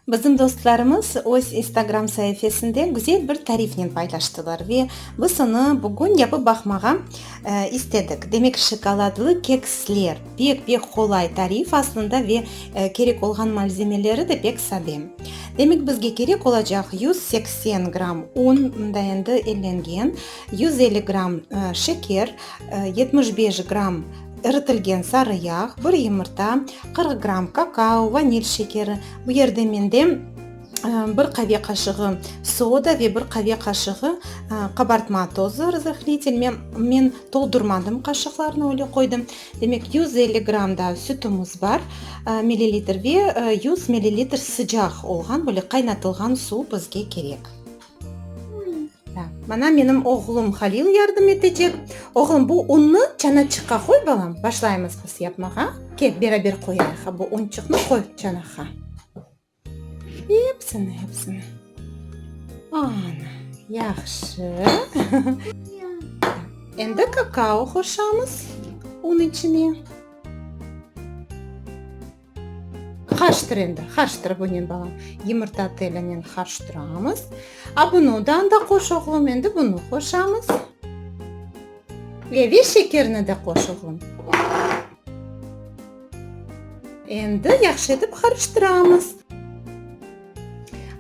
Bizim dostlarımız öz instagram saifesinde güzel bir tarifnen paylaştılar ve biz onı bugün yapıp baqmağa istedik. Demek, şokoladlı keksler. Pek-pek qolay tarif aslında ve kerek olğan malzemeleri de pek sade. Demek, bizge kerek olacaq yüz seksen gramm un, mında endi ellengen, yüz elli gramm şeker, yetmiş beş gramm iritilgen sarı yağ, bir yumurta, qırq gramm kakao, vanil şekeri, bu yerde mende, bir qave qaşığı soda ve bir qave qaşığı qabartma tozı razıhnitel men toldurmadım qaşıqlarnı öyle qoydım demek yüz elli gram da sütümüz bar millilitr ve yüz millilitr sıcaq olğan böyle qaynatılğan suv bizge kerek mana menim oğlum halil yardım etecek oğlum bu unnı çanaçıqqa qoy balam başlaymız biz yapmağa kel beraber qoyayıq bu unçıqnı qoy çanağa Epsini, epsini. Ana, yahşı. Endi kakao qoşamız un içine. Qarıştır endi, qarıştır bunen balam. Yumurta telinen qarıştıramız. A bunu da anda qoş oğlum, endi bunu qoşamız. Ve şekerini de qoş oğlum. Endi yahşı etip qarıştıramız.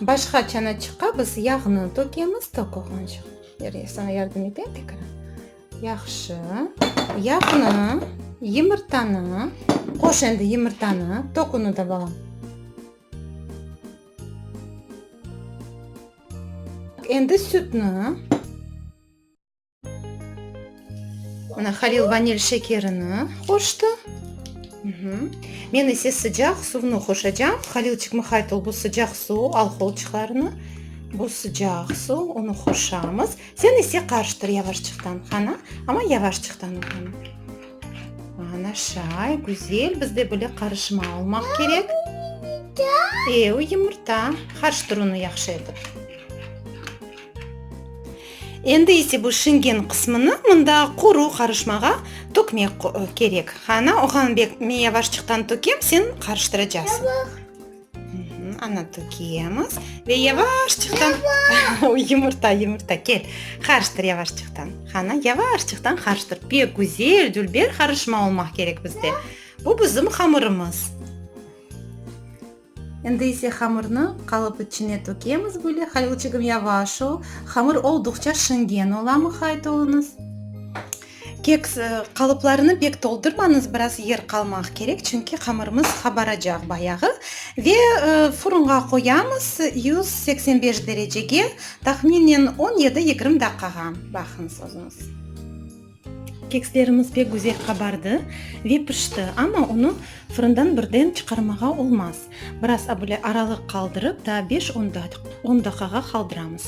Başqa çanaçıqqa biz yağnı tökemiz, tokuğunca. Yarayı, saña yardım eteyim tekrar. Yahşı. Yağnı, yımırtanı, qoş endi yımırtanı, tok unı da, balam. Endi sütnü. Mına Halil vanil şekerini qoştı. Men ise sıcaq suvnı qoşacam. Halil çıqmaqaytı bu sıcaq suv, alholçıqlarını. Bu sıcaq suv, onı qoşamız. Sen ise qarıştır yavaşçıqtan, qana. Amma yavaşçıqtan. Ana şay, güzel. Bizde böyle qarışma olmaq kerek. Ev, yumurta. Qarıştır onı yahşı etip. Endi ise bu Şengen qısmını mında quru qarışmağa tökmek kerek. Ana, oğlan bek, men yavaşçıqtan tökem, sen qarıştıracaqsıñ. Ana, tökemiz ve yavaşçıqtan, yumurta, yumurta, kel, qarıştır yavaşçıqtan. Ana, yavaşçıqtan qarıştır. Pek güzel, dülber qarışma olmaq kerek bizde. Bu bizim hamırımız. Endi ise hamırnı qalıp içine tökemiz böyle halilçigim yavaş ol hamır olduqça şingen ola muhayt oluñız. Keks qalıplarını pek toldurmañız biraz yer qalmaq kerek çünki hamırımız qabaracaq bayağı ve furunğa qoyamız yüz seksen beş derecege tahminen on yedi yigirmi daqqağa baqıñız özüñiz. Kekslerimiz pek güzel qabardı ve pişti, amma onı fırından birden çıqarmağa olmaz. Biraz böyle aralıq qaldırıp, daa beş-on daqıqa qaldıramız.